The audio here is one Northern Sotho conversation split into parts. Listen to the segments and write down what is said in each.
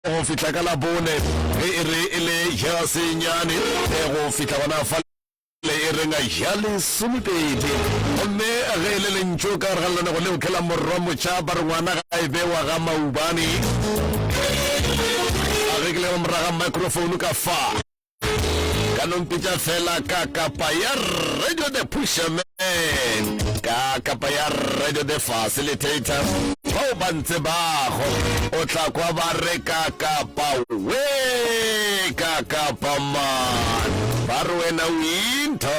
go fihla ka labone ge e re e le ya senyane go fihla gona fa le e renga ya lesomepedi gomme ge e le lentšu ka gare ga lenanego leo ke la morwa motšha ba re ngwana ga e bewa ga maubane a rekile go moraga microphone ka fa ka no mpitša fela ka kapa ya radio the pusherman ka kapa ya radio the facilitator bao ba ntse bago o tla kwa ba re ka kapa we ka kapa man ba re wena o intho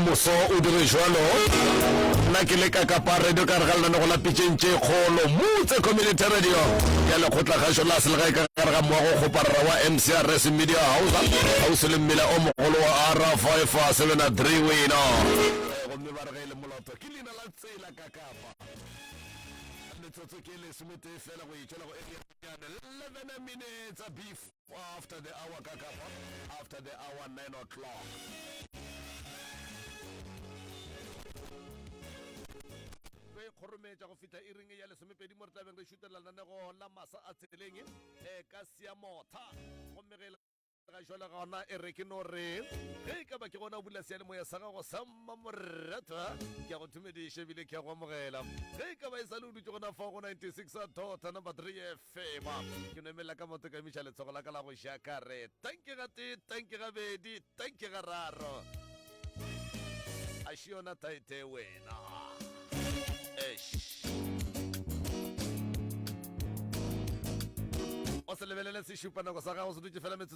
Moso o dire jwalo. Nna ke le kakapa radio ka re ga lenanego la pitšeng tše kgolo motse community radio ya lekgotla gašo la selegae ka gare ga mowa go kgoparara wa mcrs media house gausi le mmila o mogolo wa r 573 wena gomme ba re ge e le moloto ke leina la tsela kakapa metsotso ke lesometee fela go itšwela go area 11 minutes beef Kwa after the hour ka kapa after the hour 9 o'clock. re kgorometša go fihla e ring ya lesomepedi mo re tlabeng re šutelela lenanego la masa a tseleng e ka sia motha gomme ge ga jale gona e re ke no re ge e ka ba ke gona o bula seyalemoya sa gago sa mmamoratwa ke a go thumediše ebile ke a go amogela ge e ka ba e sa le o dutse gona fa go 96 tota number 3 Fema. Ke no emelela ka moto ka emiša letsogo la ka la go ja ka re, Tanki ga tee, tanki ga bedi, tanki ga raro. A še yona taete wena. Eish. o se lebelele sešupanako sa gago se dutse fela metsotso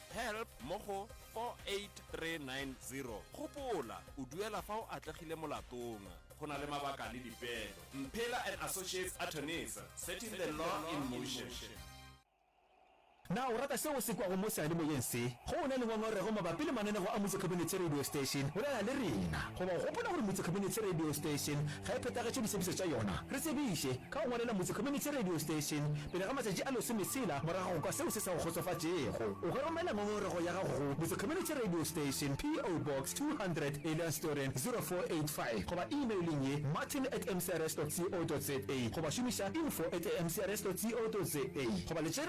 help mo go 48390. Gopola, o duela fa o atlegile molatong. Go na le mabaka le dipeelo. Mphela and Associates Attorneys, setting the law in motion. Na o rata seo o se kwago mo seyalemoyeng se? Ge o na le ngongorego mabapi le mananeo a Motse Khabinethe Radio Station, bolela le rena. Goba o gopola gore Motse Khabinethe Radio Station ga e phethagetše ditshephišo tša yona? Re tsebiše. Ka go ngwalela Motse Community Radio Station pele ga matšatši a lesome tshela morago ga go kwa seo se sa go kgotsofatšego, o ka romela ngongorego ya gago go Motse Community Radio Station, PO Box 200, Eliansdoorn 0485, goba emaileng ye, martin at mcrs dot co dot za, goba šomiša info at mcrs dot co dot za, goba le tše.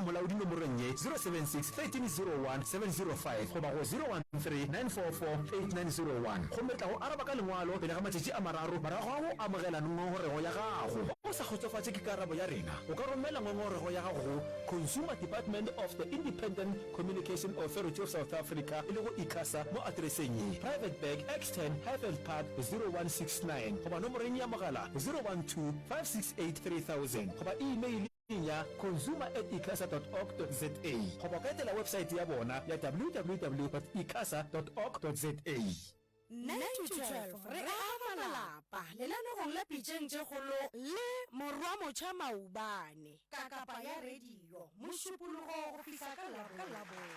Molaodi nomorong ye, 076 13 01 705 goba go 0139448901. Gomme re tla go araba ka lengwalo pele ga matšatši a mararo morago ga go amogela ngongorego ya gago. Ge o sa kgotsofatše ke karabo ya rena, o ka romela ngongorego ya gago go Consumer Department of the Independent Communication Authority of South Africa, e lego Icasa, mo atereseng ye, Private Bag, X-Ten, Highveld Park, 0169 goba nomoreng ya mogala 012 568 3000 goba imeile. websaeteng ya consumer at icasa dot org dot za goba o ka etela websaete ya bona ya www dot icasa dot org dot za. 9-12 re aga malapa lenanegong la Pitšeng tše Kgolo le Morwamocha Maubane. Ka kapa ya radio Mošupologo go fihla ka Labone.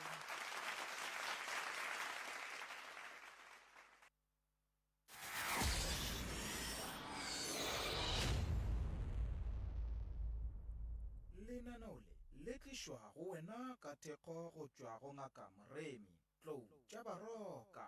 Lenaneo le le tlišwa go wena ka thekgo go tšwa go Ngaka Moremi. Tlou tša baroka.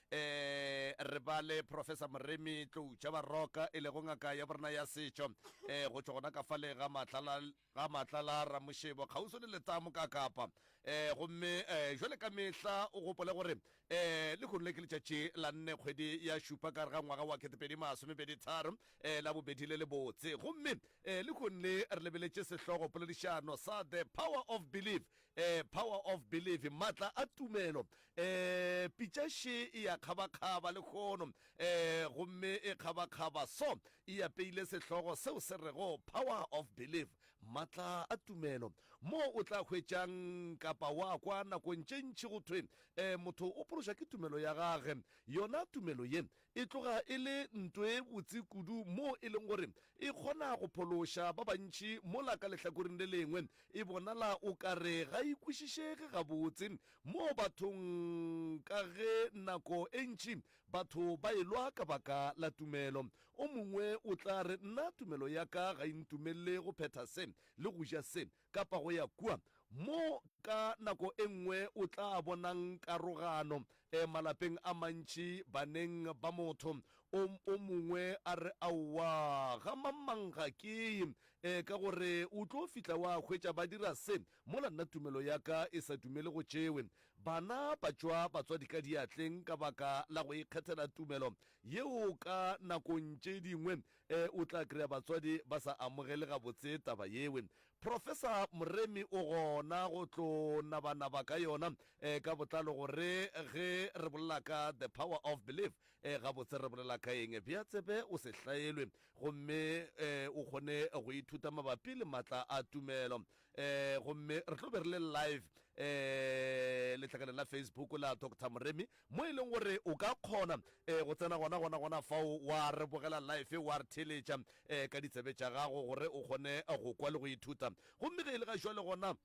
E re ba le Professor Moremi Tloutša Baroka e lego ngaka ya borena ya setšo e go tšwa gona ka fale ga Matlala ga Matlala Ramošebo kgauswi le Letamo ka Kapa. E gomme e jwale ka mehla o gopole gore e lehono le ke letšatši la nne kgwedi ya šupa ka re ga ngwaga wa ketepedi masomepedi tharo e la bobedi le lebotse gomme e lehono le re lebeletše sehlogo poledišano sa The Power of Belief eh, power of belief matla a tumelo eh, pitša še e ya kgabakgaba lehono eh, gomme e kgabakgaba so e apeile sehlogo seo se rego power of belief matla a tumelo mo o tla hwetšang kapa wa kwa nakong tše ntši go thwe eh, motho o pološa ke tumelo ya gage yona tumelo ye e tloga e le nto e botse kudu moo e leng gore e kgona go phološa ba bantši mola ka lehlakoreng le lengwe e bonala o ka re ga e kwešišege gabotse mo bathong ka ge nako e ntši batho ba e lwa ka baka la tumelo. O mongwe o tla re, Nna tumelo ya ka ga e ntumelele go phetha se le go ja se. kapa go ya kua, mo ka nako e nngwe o tla bonang karogano e malapeng a mantši, baneng ba motho o, o mongwe a re, Aowa, ga mamang ga ke ye, e, ka gore o tlo fihla wa hwetša ba dira se, mola nna tumelo ya ka e sa dumele go tšewe. Bana ba tšwa batswadi ka diatleng ka baka la go ikgethela tumelo yeo ka nakong tše dingwe E, o tla kry-a batswadi ba sa amogele gabotse taba yewe. Professor Moremi o gona go tlo nabanaba ka yona e, ka botlalo gore ge re bolela ka the power of belief e, gabotse re bolela ka eng. Bea tsebe o se hlaelwe gomme e, o kgone go ithuta mabapi le matla a tumelo. um gomme re tlo be re le live um letlhakaneng la facebook la doctor moremi mo e leng gore o ka kgona um go tsena gona gona gona fao wa re bogela life wa re theletša um ka ditsebe tša gago gore o kgone go kwa le go ithuta gomme ge e le ga jwa le gona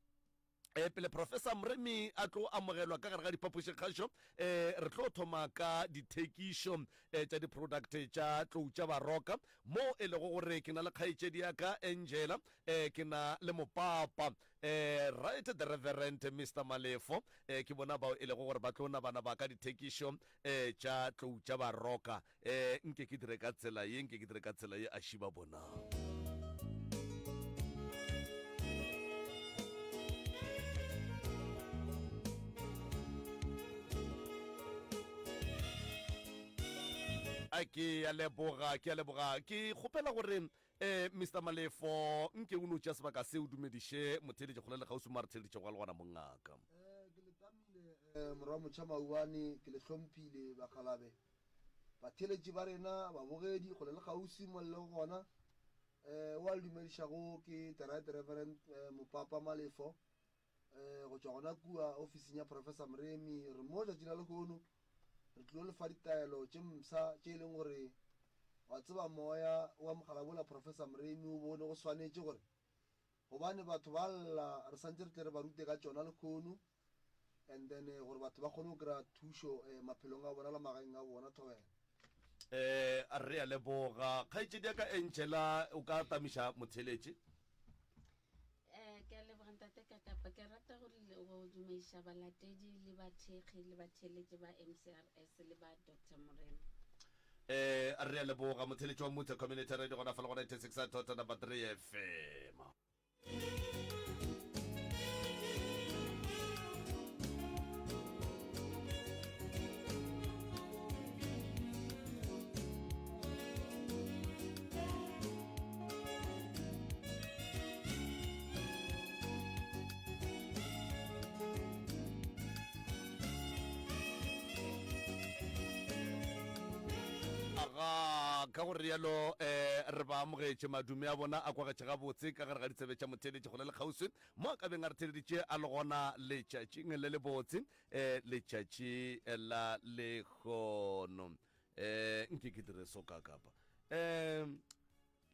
e eh, pele professor moremi a tlo amogelwa ka gare ga diphapošikgašo um eh, re tlo thoma ka dithekišo um eh, tša di-product tša tlou tša baroka mo e lego gore ke na le kgaetšedi ya ka angela um eh, ke na le mopapa eh, right the reverend mr malefo eh, ke bona bao e lego gore ba tlo nabana ba ka dithekišo eh, tša tlou tša baroka eh, nke ke dire ka tsela ye nke ke dire ka tsela ye a šiba bonang a ke ya leboga ke ya leboga ke kgopela gore Ee, Mister Malefo, nke o no tšea sebaka se o dumediše motheeletši kgole le kgauswi mo a re theeleditšego a le gona mo ngaka. Ee, ke le tamile, ee, Morwa Motšhamauane, ke le hlomphile, bakgalabe, batheeletši ba rena, babogedi kgole le kgauswi mo le lego gona. Ee, o a le dumedišago ke Teraet Reverend, ee, Mopapa Malefo, Go tšwa gona kua ofising ya Professor Mremi, re mo tšatši la lehono, re tlilo le fa ditaelo tše mpsha tše e leng gore, wa tseba, moya o amogela bola Professor Mremi o bone go swanetše gore, gobane batho ba lla, re santše re tle re ba rute ka tšona lehono, and then gore batho ba kgone go kry-a thušo maphelong a bona le magaeng a bona. Thobela. Ee, re a leboga. Kgaetšediaka Angela, o ka atamiša motheeletši? Eh, ke a leboga ntate Kakapa. Ke rata go le- go dumediša balatedi le bathekgi le batheeletši ba MCRS le ba Doctor Morena. Eh, re a leboga. Motheeletši wa Mmutlha Community Radio gona fa le go 96.3 FM. ga ka go rialo eh re ba amogetše madume a bona a kwagetše gabotse ka gare ga ditsebe tša motheeletši gona le kgauswi mo a ka beng a re theeleditše a le gona letšatšing le lebotse um letšatši la lekgono Eh, nke ke dire so ka kapa. Eh,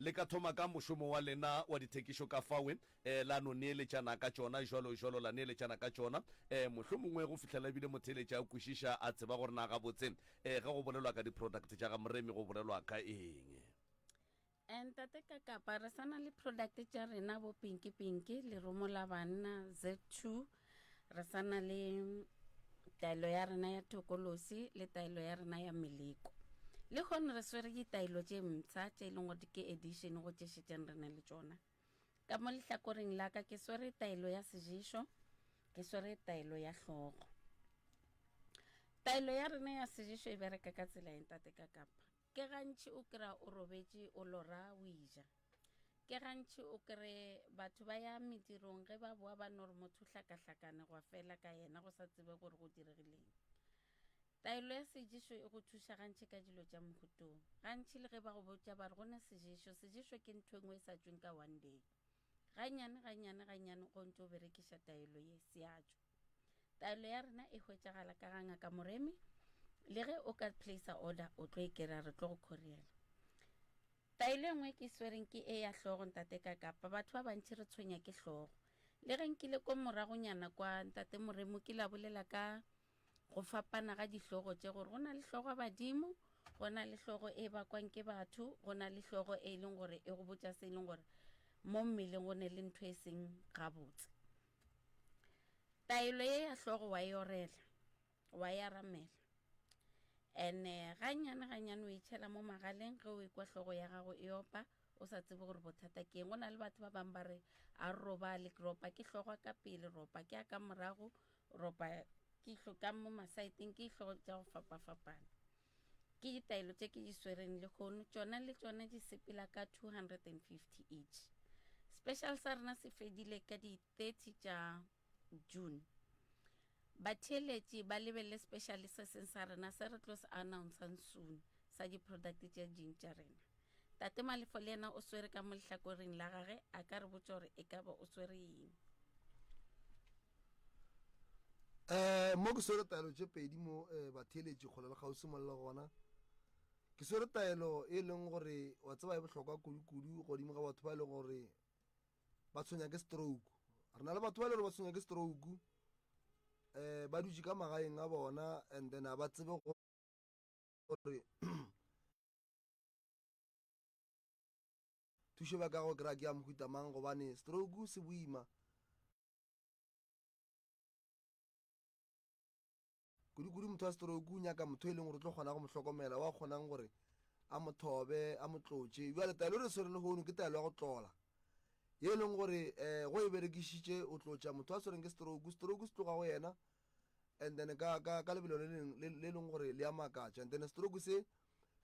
le ka thoma ka mošomo wa lena wa dithekišo ka fawe eh, la no neeletšana ka tšona jalo jalo la neeletšana ka tšona eh, mohlho mongwe go fihlela ebile motheeletša a kwešiša a tseba gore na gabotse eh, ge go bolelwa ka di-product tša ga moremi go bolelwa ka eng And tate ka kapa re sana le product tša rena bo pinki pinki lerumo la banna z2 re sana le taelo ya rena ya tokolosi le taelo ya rena ya meleko le gone re swere ditaelo tše mtsha tše e leng gore ke edition go tše šetšeng re ne le tšona ka mo lehlakoreng la ka ke swere taelo ya sejeso ke swere taelo ya hlogo taelo ya rena ya sejeso e bereka ka tsela eng tate ka kapa Ke gantši o kry-a o robetše o lora o eja. Ke gantši o kry batho ba ya medirong ge ba boa ba no re motho o hlakahlakane gwa fela ka yena go sa tsebe gore go diregileng. Taelo ya seješo e go thuša gantši ka dilo tša mohutong. Gantši le ge ba go botša ba re go ne seješo, seješo ke ntho e nngwe e sa tšweng ka one day. Gannyane, gannyane, gannyane go ntše o berekiša taelo ye, seatšo. Taelo ya rena e hwetšagala ka ga Ngaka Moremi, le ge o ka placer order o tlo e kry-a, re tlo go khoriela. Taelo e nngwe e ke e swereng ke e ya hlogo, Ntate Kakapa. Batho ba bantši re tshwenya ke hlogo. Le ge nkile ko moragonyana kwa, Ntate Moremi o kile a bolela ka go fapana ga dihlogo tše gore go na le hlogo badimo go na le hlogo e bakwang ke batho go na le hlogo e leng gore e go botša se e leng gore mo mmeleng go ne le ntho e seng gabotse taelo ye ya hlogo wa e orela wa e aramela ene eh, ganyane ganyane o itšhela mo magaleng ge o ikwa hlogo ya gago e opa o sa tsebe gore bothata ke eng go na le batho ba bangwe ba re a robale ropa ke hlogwa ka pele ropa ke a ka morago ropa ke ihlo ka mo masaeteng ke ihlogo tša go fapafapana ke ditaelo tše ke di swereng le kgono tšona le tšona di sepela ka 250 each special sa rena se fedile ka di 30 tša june batheeletši ba lebelele special se seng sa rena se re tlo se announcang soon sa di-product tše ding tša rena tate malefo le yena o swere ka mo lehlakoreng la gage a ka re botša gore e ka ba o swere eng um mo ke swere taelo tše pedi mo um batheeletši kgole le kgauswi mo le gona ke swere taelo e leng gore wa tseba e bohlokwa kudu-kudu godimo ga batho ba e leng gore ba tshwenya ke stroke re na le batho ba e le gore ba tshwenya ke stroke um ba dutše ka magaeng a bona and then a ba tsebe gore thušo ba ka go kry-a ke ya mohuta mang gobane stroke se boima kudu-kudu motho wa stroke o nyaka motho e leng gore o tlo kgona go mo hlokomela wa kgonang gore a mo thobe a mo tlotše jale taelo re swere le gono ke taelo ya go tlola ye e leng gore um go e berekišitše o tlotša motho a swereng ke stroke stroke se tloga go yena and then ka lebelo le leng gore le a makatša and then stroke se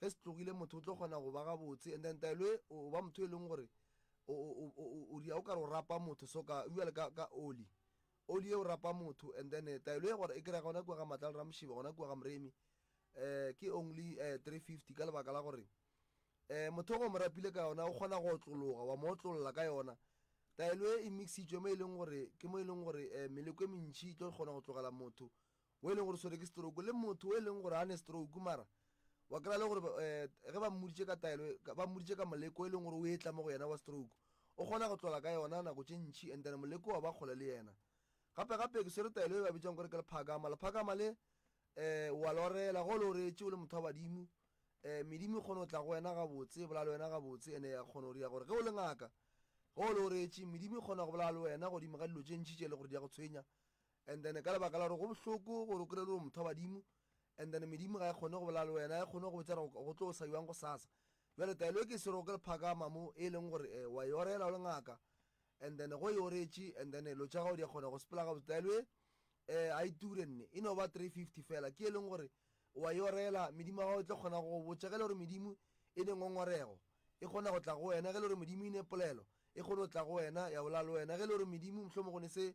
ge se tlogile motho o tlo kgona go ba gabotse and then taelo e o ba motho e leng gore o ria o kare o rapa motho so ka jale ka oli oli e o rapa motho and then eh, taelo e gore e kry-a gona kua ga matla le ramošiba gona kua ga moremi um ke only um three fifty ka lebaka la gore um motho go mo rapile ka yona o kgona go otlologa wa mo otlolola ka yona taelo e e mixitswe mo e leng gore ke mo e leng gore um meleko e mentšhi e tlo kgona go tlogela motho wo e leng gore o swere ke stroke le motho wo e leng gore ga ne stroke mara wa kry-a le gore eh, ge ba mmoditše ka taelo ba mmoditše ka moleko e leng gore o etla mo go yena wa stroke o kgona go tlola ka yona nako tše ntšhi and then moleko wa ba kgole le yena gape gape ke swere taelo e ba bitsang gore ke lephakama lephakama le um wa lorela go le oreetše o le motho wa badimo um eh, medimo e kgone go tla go wena gabotse e bolale wena gabotse ene ya kgone go dira gore ge o le ngaka ge o le oreetše medimo e kgona go bolala le wena godimo ga dilo tše ntšhi tše e le gore di ya go tshwenya And then ka lebaka la gore go bohloko gore o kry-e le gore motho wa badimo and then medimo ga e kgone go bolela le wena, ga e kgone go botsa gore go tlo o sa jwang go sasa. Bjale taelo e ke sero ke lephakama mo e leng gore eh, wa e orela o le ngaka and then go e oretše and then lo tša gago di a kgona go sepela gabotse taelo e eh a iture nne e no ba 350 fela ke e leng gore wa e orela medimo ya gago e tlo kgona go botša ge le gore medimo e ne ngongorego e kgona go tla go wena ge le gore modimo e ne polelo e kgone go tla go wena ya bola le wena ge le gore modimo mohlomong go ne se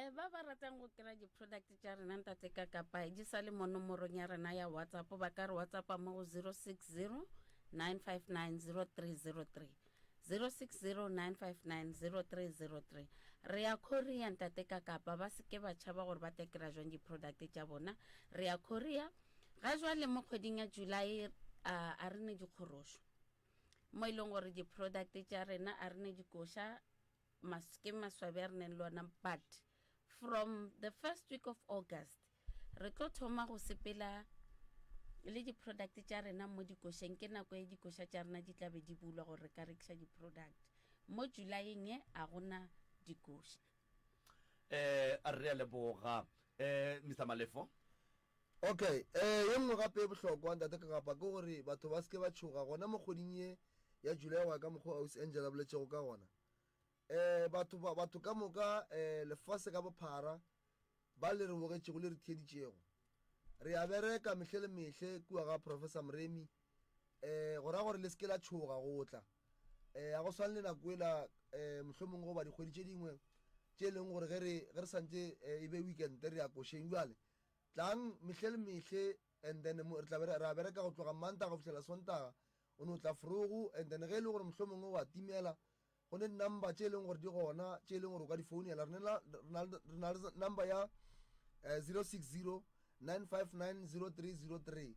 E, ba ba ratang go kry-a di-product tša rena ntate ka kapa di sa le mo nomorong ya rena ya whatsapp ba ka re whatsappa mo go 060 959 0303 060 re ya korea ntate ka kapa ba seke ba tšhaba gore ba tekera jwang di-product tša bona re ya korea ga jwale mo kgweding ya july a, a re ne dikgorošo mo e leng gore di-product tša rena a re ne dikoša mas, ke maswabi a re neng le ona but from the first week of August re tlo thoma go sepela le di-product tša rena mo dikošeng ke nako e dikoša tša rena di tla be di bulwa gore re ka rekiša di-product mo julayeng e a gona dikoša um a re a leboga um mr malefo Ok, ee, ye nngwe gape ye bohlokwa, Ntate Kagapa, ke gore batho ba se ke ba tšhoga, gona mo kgweding ye ya Julae, go ya ka mokgwa o Ausi Angel a boletšego ka gona. Ee, batho, ba, batho ka moka, ee, lefase ka bophara, ba le re bogetšego le re theeditšego. Re a bereka mehle le mehle kua ga Professor Mremi, ee, go ra gore le se ke la tšhoga go tla. Ee, ga go swane le nako ela, ee, mohlomong goba dikgwedi tše dingwe, tše e leng gore ge re, ge re santše, ee, e be weekend, re ya košeng. Bjale. Tlang mehle le mehle and then mo, re tla be re, re a bereka go tloga Mmantaga go fihlela Sontaga, o no tla Frogo and then ge e le gore mohlomongwe wa timela, go ne number tše e leng gore di gona tše e leng gore o ka di founela. Re na, re na, re na le number ya eh, 0609590303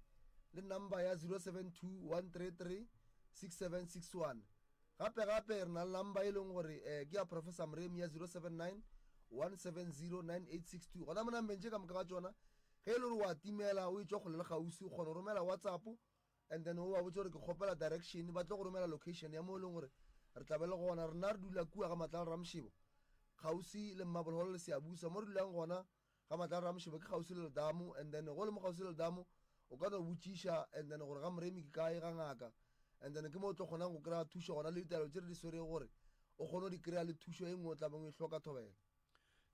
le number ya 0721336761. Gape-gape re na le number e leng gore eh ke ya Professor Mremi ya 0791709862. Gona monambeng tše ka moka ga tšona ge e le gore wa timela o e tšwa kgole le kgauswi o kgona go romela WhatsApp and then o ba botse gore ke kgopela direction ba tlo go romela location ya mo e leng gore re tla be le gona. Rena re dula kua ga Matlala Ramšebo kgauswi le Mmabolholo le Seabusa mo re dulang gona. ga matlaro a mošebo ke kgauswi le letamo and then go le mo kgauswi le letamo o ka no botšiša and then gore ga moremi ke kae ga ngaka and then ke mo o tlo kgonang go kry-a thušo gona le ditaelo tše re di swerego gore o kgone go di kry-a le thušo e nngwe o tlabeng o e hloka thobela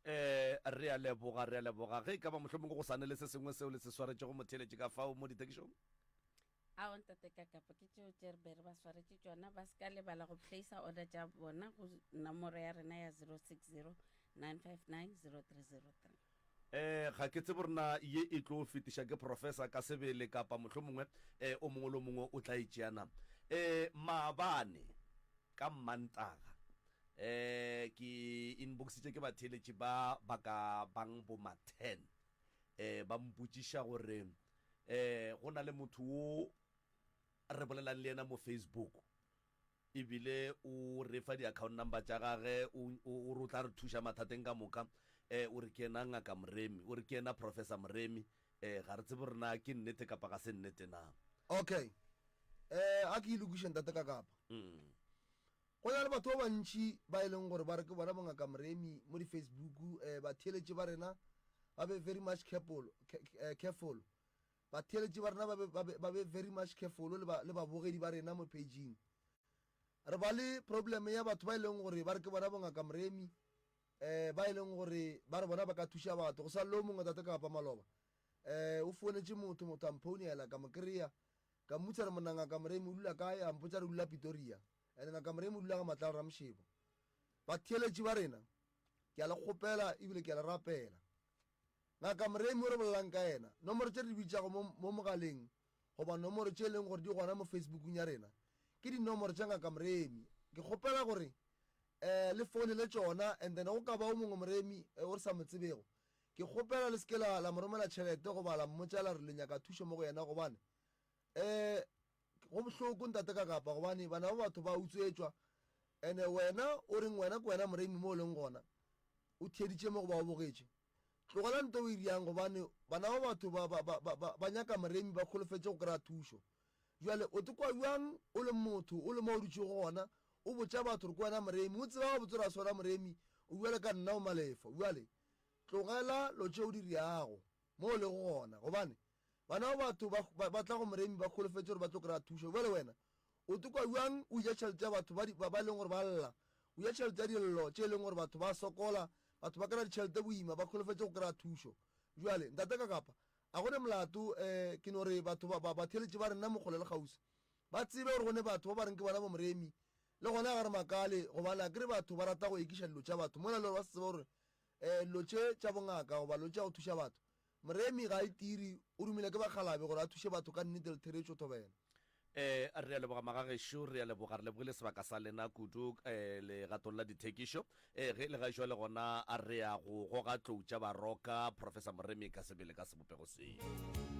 um re a leboga re a leboga ge e ka ba mohlomong go sa ne le se sengwe seo le se swaretšego motheeletše ka fao mo ditekišong Ao ntate Kakapo ke tšeo tše re be re ba swaretše tšona, ba se ka lebala go placer order tša bona go nomoro ya rena ya 0609590303. Ee, ga ke tsebe gore na ye e tlo fetiša ke Professor ka sebele kapa mohlomongwe ee, o mongwe le o mongwe o tla e tšea na. Ee, maabane ka Mmantaga ee, ke inboxitše ke batheeletši ba ba ka bang bo ma ten ee, ba mpotšiša gore, um go na le motho wo re bolelang le yena mo Facebook ebile o re fa di-account number tša gage o o- o re o tla re thuša mathateng ka moka um o re ke yena ngaka moremi o re ke yena professor moremi um ga re tsebe gore na ke nnete kapa ga se nnete na okay um a ke ilokiše ntate ka kapa Mm. Go na le batho ba bantši ba e leng gore ba re ke bona bo Ngaka Mremi mo di Facebook, batheeletši ba rena ba be very much careful, careful, batheeletši ba rena ba be, ba be, ba be very much careful le ba, le babogedi ba rena mo page-ing. Re ba le problem ya batho ba e leng gore ba re ke bona bo Ngaka Mremi, um ba e leng gore ba re bona ba ka thuša batho. Go sa lleo mongwe Tate Kapa Maloba, um o founetše motho, motho a mphounela, ka mo kry-a, ka mmotšiša re monna Ngaka Mremi o dula kae, a mpotša re dula Pitoria. And Ngaka Mremu o dula ga Matlalo Ramshebo. Batheeletši ba rena, ke a le kgopela ebile ke a le rapela. Ngaka Mremu o re bolelang ka yena, nomoro tše re di bitšago mo, mo mogaleng goba nomoro tše e leng gore di gona mo Facebookung ya rena, ke dinomoro tša Ngaka Mremi. Ke kgopela gore um le founele tšona and then go ka ba o mongwe Mremi eh, o re sa mo tsebego. Ke kgopela le se ke la, la mo romela tšhelete goba la mmotša la re le nyaka thušo mo go yena gobane Ee, go bohloko ntate ka kapa gobane bana ba batho ba utswetšwa ene wena o reng wena ke wena moremi mo o leng gona o theditše mo go ba o bogetše. Tlogela nto o e riang gobane bana ba batho ba, ba, ba, ba, ba nyaka moremi ba kholofetše go kry-a thušo. Jwale o te kwa bjang o le motho o le mo o dutšego gona o botša batho gore ke wena moremi o tseba gabotse gore a se wena moremi o bjale ka nna o malefa. Jwale tlogela lo tše o di riago mo o lego gona gobane Bana ba batho ba, ba, ba tla go Moremi ba holofetše gore ba tlo kry-a thušo. Bjale wena o tokwa bjang o ja tšhelete ya batho ba, di, ba, ba e leng gore ba lla, o ja tšhelete ya dillo tše e leng gore batho ba sokola, batho ba kry-a ditšhelete boima, ba holofetše go kry-a thušo. Bjale, Ntate Kakapa, a go ne molato, um ke no re batho ba, ba, batheeletši ba rena Mokgole le Kgauswi ba tsebe gore go ne batho ba ba reng ke bana ba Moremi, le gona ga re makale gobane a ke re batho ba rata go ekiša dilo tša batho mola e le gore ba se tsebe gore um dilo tše tša bongaka goba dilo tša go thuša batho Moremi Gaitiri o romilwe ke bakgalabe gore a thuše batho ka nnete Letheretšo Thobela. Ee, re a leboga magagešo, re a leboga, re lebogile sebaka sa lena kudu legatong la dithekišo. Ee, ge e le gaešwale gona re ya go goga tlou tša baroka, Professor Moremi ka sebele ka sebopego seo.